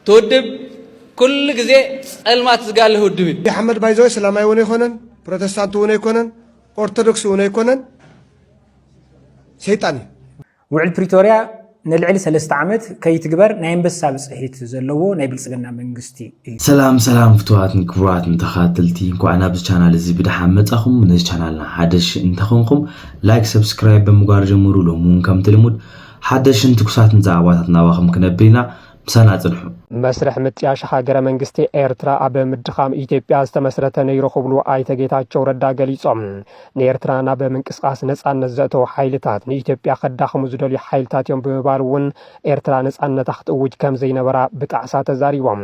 ትውድብ ኩሉ ግዜ ጸልማት ዝጋልህ ውድብ እዩ። ኣሕመድ ባይዘወይ ሰላማይ እውን ኣይኮነን፣ ፕሮቴስታንት እውን ኣይኮነን፣ ኦርቶዶክስ እውን ኣይኮነን፣ ሰይጣን እዩ። ውዕል ፕሪቶርያ ንልዕሊ ሰለስተ ዓመት ከይትግበር ናይ ኣንበሳ ብፅሒት ዘለዎ ናይ ብልፅግና መንግስቲ እዩ። ሰላም ሰላም ፍትዋትን ክቡራትን ተኸታተልቲ እንኳዕ ናብዚ ቻናል እዚ ብድሓን መጻኹም። ነዚ ቻናልና ሓደሽ እንተኾንኩም ላይክ፣ ሰብስክራይብ ብምግባር ጀምሩ። ሎሚ እውን ከምቲ ልሙድ ሓደሽን ትኩሳትን ዛዕባታት ናባኹም ክነብል ኢና፣ ምሳና ጽንሑ። መስርሕ ምጥያሽ ሃገረ መንግስቲ ኤርትራ ኣብ ምድኻም ኢትዮጵያ ዝተመስረተ ነይሩ ክብሉ ኣይተ ጌታቸው ረዳ ገሊፆም። ንኤርትራ ናብ ምንቅስቓስ ነፃነት ዘእተው ሓይልታት ንኢትዮጵያ ከዳኽሙ ዝደልዩ ሓይልታት እዮም ብምባል እውን ኤርትራ ነፃነታ ክትእውጅ ከምዘይነበራ ብጣዕሳ ተዛሪቦም።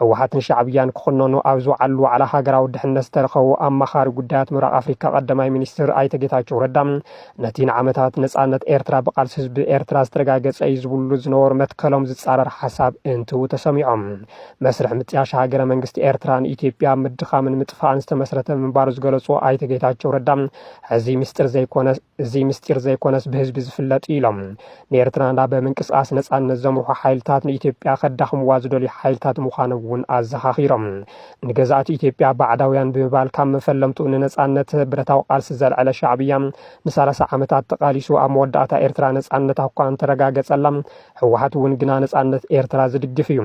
ህወሓትን ሻዕብያን ክኹነኑ ኣብ ዝወዓሉ ዋዕላ ሃገራዊ ድሕነት ዝተረኸቡ ኣማኻሪ ጉዳያት ምብራቕ ኣፍሪካ ቀዳማይ ሚኒስትር ኣይተ ጌታቸው ረዳ ነቲ ንዓመታት ነጻነት ኤርትራ ብቓልሲ ህዝቢ ኤርትራ ዝተረጋገጸ እዩ ዝብሉ ዝነበሩ መትከሎም ዝጻረር ሓሳብ እንትው ተሰሚዖም መስርሕ ምጥያሽ ሃገረ መንግስቲ ኤርትራ ንኢትዮጵያ ኣብ ምድኻምን ምጥፋእን ዝተመስረተ ምንባሩ ዝገለጹ ኣይተ ጌታቸው ረዳ እዚ ምስጢር ዘይኮነ እዚ ምስጢር ዘይኮነስ ብህዝቢ ዝፍለጥ እዩ ኢሎም ንኤርትራ ናብ ምንቅስቓስ ነጻነት ዘምርሑ ሓይልታት ንኢትዮጵያ ከዳኽምዋ ዝደልዩ ሓይልታት ምዃኖም እውን ኣዘኻኺሮም ንገዛእቲ ኢትዮጵያ ባዕዳውያን ብምባል ካብ መፈለምቱ ንነፃነት ብረታዊ ቃልሲ ዘልዐለ ሻዕብያ ንሳላሳ ዓመታት ተቓሊሱ ኣብ መወዳእታ ኤርትራ ነፃነት ኣኳ እንተረጋገጸላ ህወሓት እውን ግና ነፃነት ኤርትራ ዝድግፍ እዩ።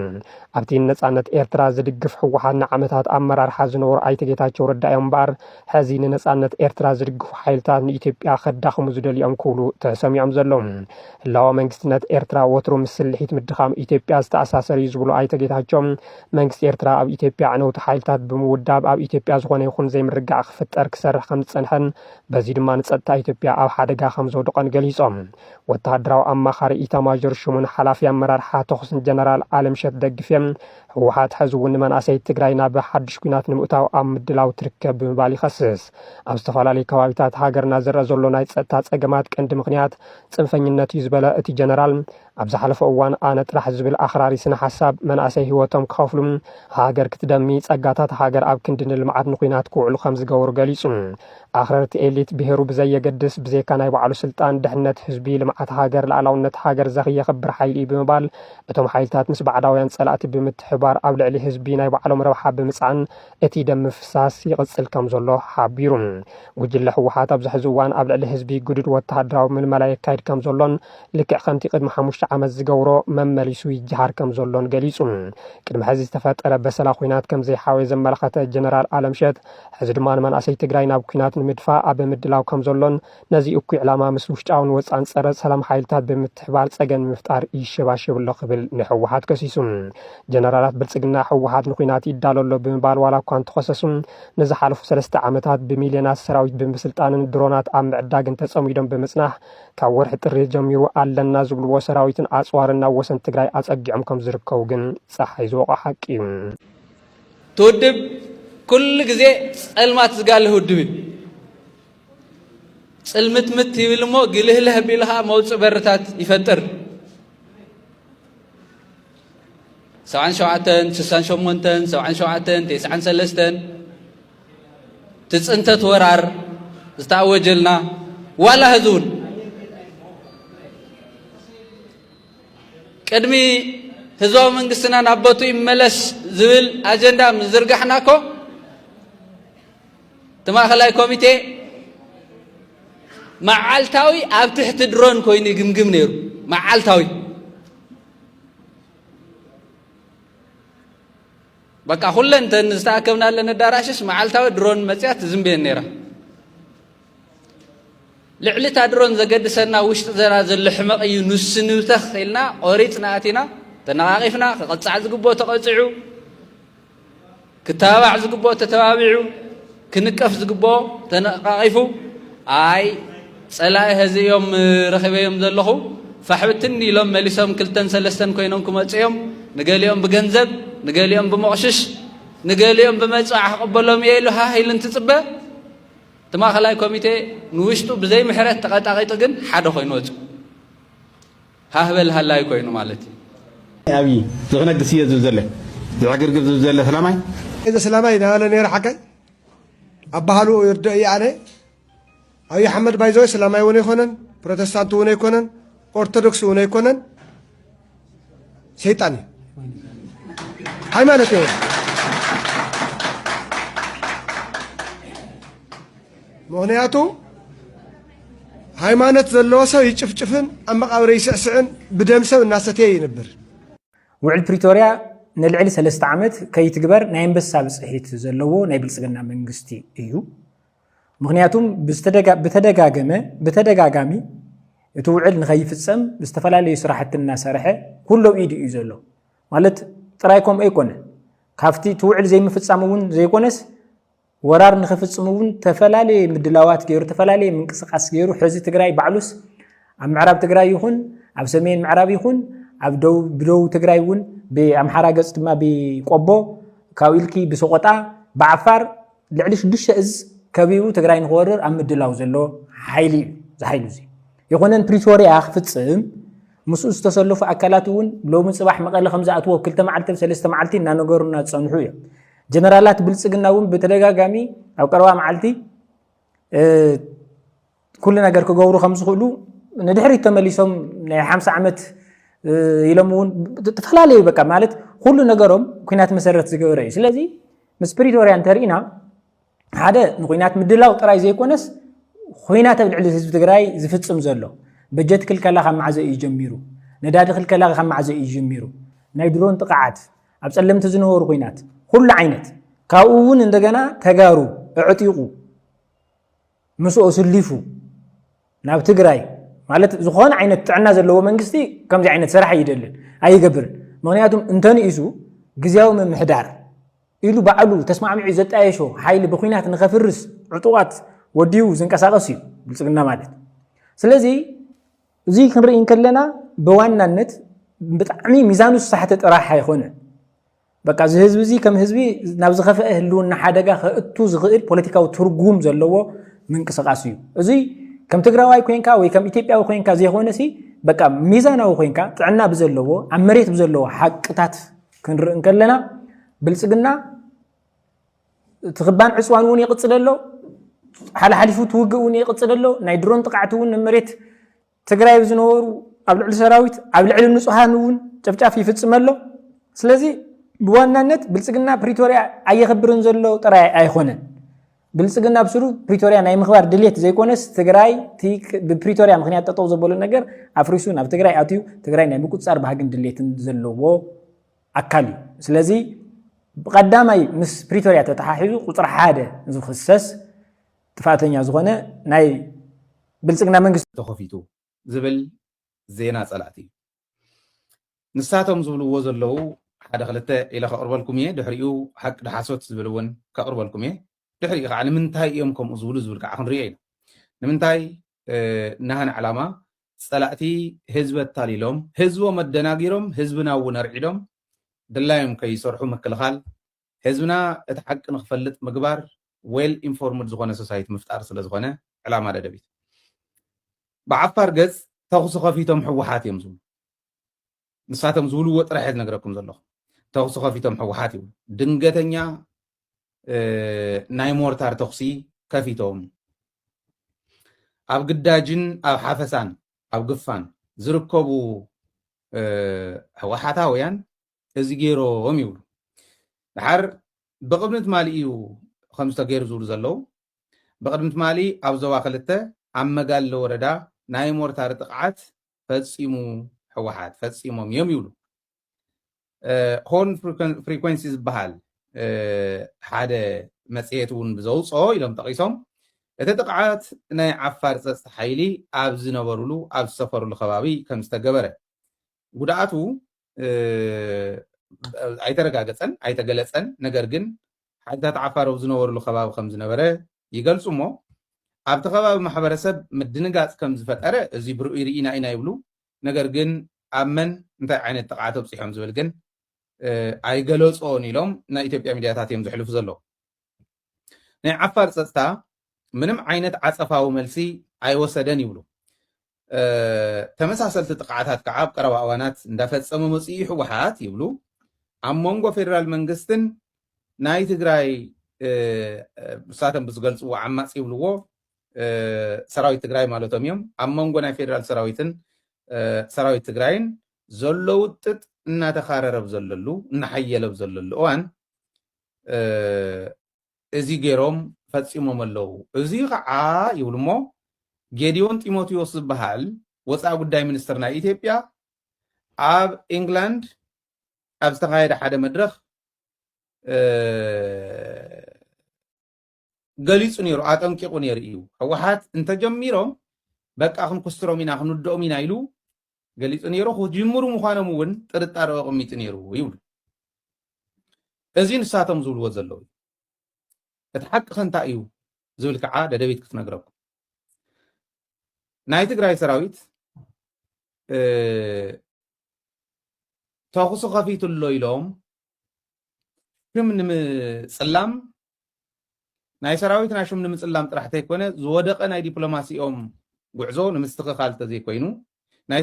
ኣብቲ ንነፃነት ኤርትራ ዝድግፍ ህወሓት ንዓመታት ኣመራርሓ ዝነበሩ ኣይተ ጌታቸው ረዳ እዮም እምበኣር ሕዚ ንነፃነት ኤርትራ ዝድግፉ ሓይልታት ንኢትዮጵያ ከዳኽሙ ዝደልዮም ክብሉ ተሰሚዖም ዘለዉ። ህላወ መንግስትነት ኤርትራ ወትሩ ምስ ስልሒት ምድኻም ኢትዮጵያ ዝተኣሳሰር እዩ ዝብሉ ኣይተ ጌታቸው መንግስቲ ኤርትራ ኣብ ኢትዮጵያ ኣዕነውቲ ሓይልታት ብምውዳብ ኣብ ኢትዮጵያ ዝኾነ ይኹን ዘይምርግጋዕ ክፍጠር ክሰርሕ ከም ዝጸንሐን በዚ ድማ ንጸጥታ ኢትዮጵያ ኣብ ሓደጋ ከም ዘውድቐን ገሊጾም። ወተሃደራዊ ኣማኻሪ ኢታማዦር ሹምን ሓላፊ ኣመራርሓ ተኹስን ጀነራል ኣለምሸት ደግፌ ህወሓት ሕዚ እውን ንመናእሰይ ትግራይ ናብ ሓድሽ ኲናት ንምእታው ኣብ ምድላው ትርከብ ብምባል ይኸስስ። ኣብ ዝተፈላለዩ ከባቢታት ሃገርና ዝረኣ ዘሎ ናይ ጸጥታ ጸገማት ቀንዲ ምኽንያት ጽንፈኝነት እዩ ዝበለ እቲ ጀነራል ኣብ ዝሓለፈ እዋን ኣነ ጥራሕ ዝብል ኣኽራሪ ስነ ሓሳብ መናእሰይ ህይወቶም ክኸፍሉ፣ ሃገር ክትደሚ፣ ፀጋታት ሃገር ኣብ ክንዲ ንልምዓት ንኹናት ክውዕሉ ከምዝገበሩ ገሊፁ። ኣኽረርቲ ኤሊት ብሄሩ ብዘየገድስ ብዘይካ ናይ ባዕሉ ስልጣን ድሕነት ህዝቢ፣ ልምዓት ሃገር፣ ልኣላውነት ሃገር ዘኽየኽብር ሓይሊ እዩ ብምባል እቶም ሓይልታት ምስ ባዕዳውያን ፀላእቲ ብምትሕብባር ኣብ ልዕሊ ህዝቢ ናይ ባዕሎም ረብሓ ብምፅዓን እቲ ደም ምፍሳስ ይቕፅል ከምዘሎ ሓቢሩ። ጉጅለ ህወሓት ኣብዚ ሕዚ እዋን ኣብ ልዕሊ ህዝቢ ግዱድ ወተሃደራዊ ምልመላ የካይድ ከምዘሎን ልክዕ ከምቲ ቅድሚ ሓሙሽተ ዓመት ዝገብሮ መመሊሱ ይጀሃር ከም ዘሎን ገሊጹ። ቅድሚ ሕዚ ዝተፈጠረ በሰላ ኲናት ከም ዘይሓወየ ዘመላኸተ ጀነራል ኣለምሸት፣ ሕዚ ድማ ንመናእሰይ ትግራይ ናብ ኲናት ንምድፋእ ኣብ ምድላው ከም ዘሎን ነዚ እኩይ ዕላማ ምስ ውሽጣውን ወጻእን ጸረ ሰላም ሓይልታት ብምትሕብባር ጸገም ንምፍጣር ይሸባሸብ ኣሎ ክብል ንህወሓት ከሲሱ። ጀነራላት ብልጽግና ህወሓት ንኲናት ይዳሎ ኣሎ ብምባል ዋላ እኳ እንተኸሰሱ ንዝሓለፉ ሰለስተ ዓመታት ብሚልዮናት ሰራዊት ብምስልጣንን ድሮናት ኣብ ምዕዳግን ተጸሚዶም ብምጽናሕ ካብ ወርሒ ጥሪ ጀሚሩ ኣለና ዝብልዎ ሰራዊትን ኣፅዋርን ናብ ወሰን ትግራይ ኣፀጊዖም ከም ዝርከቡ ግን ፀሓይ ዝወቕዖ ሓቂ እዩ። እቲ ውድብ ኩሉ ግዜ ፀልማት ዝጋልህ ውድብ እዩ። ፅልምትምት ይብል እሞ ግልህልህ ኣቢሉ ከዓ መውፅእ በርታት ይፈጥር። ሰብዓን ሸውዓተን ስሳን ሸሞንተን ሰብዓን ሸውዓተን ቴስዓን ሰለስተን እቲ ፅንተት ወራር ዝተኣወጀልና ዋላ ህዚ እውን ቅድሚ ህዝባዊ መንግስትና ናብ ቦቱ ይመለስ ዝብል ኣጀንዳ ምዝርጋሕና እኮ እቲ ማእኸላይ ኮሚቴ መዓልታዊ ኣብ ትሕቲ ድሮን ኮይኑ ይግምግም ነይሩ መዓልታዊ በቃ ኩለን እተን ዝተኣከብናለን ኣዳራሽስ መዓልታዊ ድሮን መፅያ ትዝንብየን ነይራ ልዕሊ እታ ድሮን ዘገድሰና ውሽጢ ዘና ዘሎ ሕመቕ እዩ ንስንብተኽ ኢልና ቆሪፅና ኣቲና ተነቓቒፍና ክቕፃዕ ዝግብኦ ተቐፂዑ ክተባባዕ ዝግብኦ ተተባቢዑ፣ ክንቀፍ ዝግብኦ ተነቓቒፉ፣ ኣይ ጸላኢ ህዚ እዮም ረኺበዮም ዘለኹ ፋሕብትን ኢሎም መሊሶም ክልተን ሰለስተን ኮይኖም ክመጹ እዮም፣ ንገሊኦም ብገንዘብ ንገሊኦም ብመቕሽሽ ንገሊኦም ብመጽዋዕ ክቕበሎም እየ ኢሉ ሃህ ኢሉ እንትጽበ እቲ ማእኸላይ ኮሚቴ ንውሽጡ ብዘይ ምሕረት ተቐጣቒጡ ግን ሓደ ኮይኑ ወጹ። ሃህ በል ሃላይ ኮይኑ ማለት እዩ። ኣብይ ዝክነግስ እየ ዝብ ዘለ ዝዕግርግር ዝብ ዘለ ስላማይ። ኣይ ዘስላማይ ናበለ ነይረ ሓቀይ ኣባሃልኡ ይርደእ እየ ኣነ ኣብይ ኣሕመድ ባይዘወ ስላማይ እውን ኣይኮነን ፕሮቴስታንት እውን ኣይኮነን ኦርቶዶክስ እውን ኣይኮነን ሰይጣን እዩ ሃይማኖት እዩ ምክንያቱ ሃይማኖት ዘለዎ ሰብ ይጭፍጭፍን ኣብ መቓብረ ይስዕስዕን ብደም ሰብ እናሰተየ ይንብር። ውዕል ፕሪቶርያ ንልዕሊ ሰለስተ ዓመት ከይትግበር ናይ ኣንበሳ ብፅሒት ዘለዎ ናይ ብልፅግና መንግስቲ እዩ። ምክንያቱም ብተደጋገመ ብተደጋጋሚ እቲ ውዕል ንኸይፍፀም ዝተፈላለዩ ስራሕቲ እናሰርሐ ኩሎ ኢዱ እዩ ዘሎ ማለት ጥራይ ከምኡ ኣይኮነ ካብቲ እቲ ውዕል ዘይምፍፃም እውን ዘይኮነስ ወራር ንክፍፅሙ እውን ተፈላለየ ምድላዋት ገይሩ ተፈላለየ ምንቅስቃስ ገይሩ ሕዚ ትግራይ ባዕሉስ ኣብ ምዕራብ ትግራይ ይኹን ኣብ ሰሜን ምዕራብ ይኹን ኣብ ደቡብ ብደቡብ ትግራይ እውን ብኣምሓራ ገፅ ድማ ብቆቦ ካብኡ ኢልኪ ብሰቆጣ ብዓፋር ልዕሊ ሽዱሽተ እዝ ከቢቡ ትግራይ ንክወርር ኣብ ምድላው ዘሎ ሓይሊ እዩ እዚ ሓይሊ እዚ ይኹነን ፕሪቶርያ ክፍፅም ምስኡ ዝተሰለፉ ኣካላት እውን ሎሚ ፅባሕ መቐለ ከም ዝኣትዎ ክልተ መዓልቲ ሰለስተ መዓልቲ እናነገሩና ዝፀንሑ እዮም ጀነራላት ብልፅግና እውን ብተደጋጋሚ ኣብ ቀረባ መዓልቲ ኩሉ ነገር ክገብሩ ከም ዝኽእሉ ንድሕሪት ተመሊሶም ናይ ሓምሳ ዓመት ኢሎም እውን ዝተፈላለዩ በቃ ማለት ኩሉ ነገሮም ኩናት መሰረት ዝገበረ እዩ ስለዚ ምስ ፕሪቶርያ እንተርኢና ሓደ ንኩናት ምድላው ጥራይ ዘይኮነስ ኩናት ኣብ ልዕሊ ህዝቢ ትግራይ ዝፍፅም ዘሎ በጀት ክልከላ ካብ ማዕዘ እዩ ጀሚሩ ነዳዲ ክልከላ ካብ ማዕዘ እዩ ጀሚሩ ናይ ድሮን ጥቕዓት ኣብ ፀለምቲ ዝነበሩ ኩናት ኩሉ ዓይነት ካብኡ እውን እንደገና ተጋሩ እዕጢቑ ምስኦ ስሊፉ ናብ ትግራይ ማለት ዝኾነ ዓይነት ጥዕና ዘለዎ መንግስቲ ከምዚ ዓይነት ስራሕ ይደልን ኣይገብርን ምክንያቱም እንተንኢሱ ግዜያዊ ምምሕዳር ኢሉ ባዕሉ ተስማዕሚዑ ዘጣየሾ ሓይሊ ብኩናት ንከፍርስ ዕጡቃት ወዲቡ ዝንቀሳቀስ እዩ ብልፅግና ማለት ስለዚ እዙይ ክንርኢ እንከለና ብዋናነት ብጣዕሚ ሚዛኑ ዝሳሕተ ጥራሕ ኣይኮነን በቃ እዚ ህዝቢ እዚ ከም ህዝቢ ናብ ዝኸፍአ ህልውና ሓደጋ ከእቱ ዝኽእል ፖለቲካዊ ትርጉም ዘለዎ ምንቅስቃስ እዩ እዚ ከም ትግራዋይ ኮንካ ወይ ከም ኢትዮጵያዊ ኮንካ ዘይኮነ ሲ በቃ ሚዛናዊ ኮንካ ጥዕና ብዘለዎ ኣብ መሬት ብዘለዎ ሓቅታት ክንርኢ እንከለና ብልፅግና እቲ ክባን ዕፅዋን እውን ይቕፅል ኣሎ ሓላሓሊፉ እቲ ውግእ እውን ይቕፅል ኣሎ ናይ ድሮን ጥቃዕቲ እውን መሬት ትግራይ ዝነበሩ ኣብ ልዕሊ ሰራዊት ኣብ ልዕሊ ንፁሃን እውን ጨፍጫፍ ይፍፅም ኣሎ ስለዚ ብዋናነት ብልፅግና ፕሪቶርያ ኣየኽብርን ዘሎ ጥራይ ኣይኮነን ብልፅግና ብ ስሩ ፕሪቶርያ ናይ ምኽባር ድሌት ዘይኮነስ ትግራይ ቲ ብፕሪቶርያ ምኽንያት ጠጠው ዘበሉ ነገር ኣፍሪሱ ናብ ትግራይ ኣትዩ ትግራይ ናይ ምቁፅፃር ባህግን ድሌትን ዘለዎ ኣካል እዩ። ስለዚ ብቀዳማይ ምስ ፕሪቶርያ ተተሓሒዙ ቁፅሪ ሓደ ዝኽሰስ ጥፍኣተኛ ዝኾነ ናይ ብልፅግና መንግስቲ ተኸፊቱ ዝብል ዜና ፀላእቲ እዩ። ንሳቶም ዝብልዎ ዘለዉ ሓደ ክልተ ኢለ ከቕርበልኩም እየ ድሕሪኡ ሓቂ ድሓሶት ዝብል እውን ከቕርበልኩም እየ ድሕሪኡ ከዓ ንምንታይ እዮም ከምኡ ዝብሉ ዝብል ከዓ ክንሪኦ ኢና ንምንታይ ናህን ዕላማ ፀላእቲ ህዝቢ ኣታሊሎም ህዝቦም ኣደናጊሮም ህዝብና እውን ኣርዒዶም ድላዮም ከይሰርሑ ምክልኻል ህዝብና እቲ ሓቂ ንክፈልጥ ምግባር ዌል ኢንፎርምድ ዝኾነ ሶሳይቲ ምፍጣር ስለዝኾነ ዕላማ ደደቢት። ብዓፋር ገጽ ተኹሲ ከፊቶም ህወሓት እዮም ዝብሉ። ንሳቶም ዝብልዎ ጥራሕ እየ ዝነግረኩም ዘለኹ። ተኹሲ ከፊቶም ህወሓት ይብሉ። ድንገተኛ ናይ ሞርታር ተኹሲ ከፊቶም ኣብ ግዳጅን ኣብ ሓፈሳን ኣብ ግፋን ዝርከቡ ህወሓታውያን እዚ ገይሮም ይብሉ። ደሓር ብቕድሚ ትማሊ እዩ ከምዚ ተገይሩ ዝብሉ ዘለዉ። ብቕድሚ ትማሊ ኣብ ዞባ ክልተ ኣብ መጋለ ወረዳ ናይ ሞርታር ጥቕዓት ፈፂሙ ህወሓት ፈፂሞም እዮም ይብሉ። ሆርን ፍሪኮንሲ ዝበሃል ሓደ መፅሄት እውን ብዘውፅኦ ኢሎም ጠቒሶም እቲ ጥቕዓት ናይ ዓፋር ፀፅታ ሓይሊ ኣብ ዝነበሩሉ ኣብ ዝሰፈሩሉ ከባቢ ከም ዝተገበረ ጉድኣቱ ኣይተረጋገፀን ኣይተገለፀን ነገር ግን ሓይልታት ዓፋር ኣብ ዝነበርሉ ከባቢ ከም ዝነበረ ይገልፁ እሞ ኣብቲ ከባቢ ማሕበረሰብ ምድንጋፅ ከም ዝፈጠረ እዚ ብርእይ ርኢና ኢና ይብሉ ነገር ግን ኣብ መን እንታይ ዓይነት ጥቕዓት ኣብፂሖም ዝብል ግን ኣይገለፆን ኢሎም ናይ ኢትዮጵያ ሚድያታት እዮም ዘሕልፉ ዘለዉ ናይ ዓፋር ፀፅታ ምንም ዓይነት ዓፀፋዊ መልሲ ኣይወሰደን ይብሉ። ተመሳሰልቲ ጥቕዓታት ከዓ ኣብ ቀረባ እዋናት እንዳፈፀመ መፂኡ ዩ ህወሓት ይብሉ። ኣብ መንጎ ፌደራል መንግስትን ናይ ትግራይ ንሳቶም ብዝገልፅዎ ዓማፅ ይብልዎ ሰራዊት ትግራይ ማለቶም እዮም ኣብ መንጎ ናይ ፌደራል ሰራዊትን ሰራዊት ትግራይን ዘሎ ውጥጥ እናተኻረረብ ዘለሉ እናሓየለብ ዘለሉ እዋን እዚ ገይሮም ፈጺሞም ኣለዉ። እዚ ኸዓ ይብሉ እሞ ጌዲዮን ጢሞቴዎስ ዝበሃል ወጻኢ ጉዳይ ሚኒስትር ናይ ኢትዮጵያ ኣብ ኢንግላንድ ኣብ ዝተኻየደ ሓደ መድረኽ ገሊጹ ነይሩ፣ ኣጠንቂቑ ነይሩ እዩ። ህወሓት እንተጀሚሮም በቃ ክንኩስትሮም ኢና፣ ክንውድኦም ኢና ኢሉ ገሊጹ ነይሩ። ክጅምሩ ምዃኖም እውን ጥርጣሬ ኣቐሚጡ ነይሩ ይብሉ። እዚ ንሳቶም ዝብልዎ ዘለዉ እዩ። እቲ ሓቂ ከ እንታይ እዩ ዝብል ከዓ ደደቢት ክትነግረኩም ናይ ትግራይ ሰራዊት ተኹሲ ከፊቱ ኣሎ ኢሎም ክም ንምፅላም ናይ ሰራዊትና ሹም ንምጽላም ጥራሕ ተይኮነ ዝወደቐ ናይ ዲፕሎማሲኦም ጉዕዞ ንምስትኽኻል ተዘይኮይኑ ናይ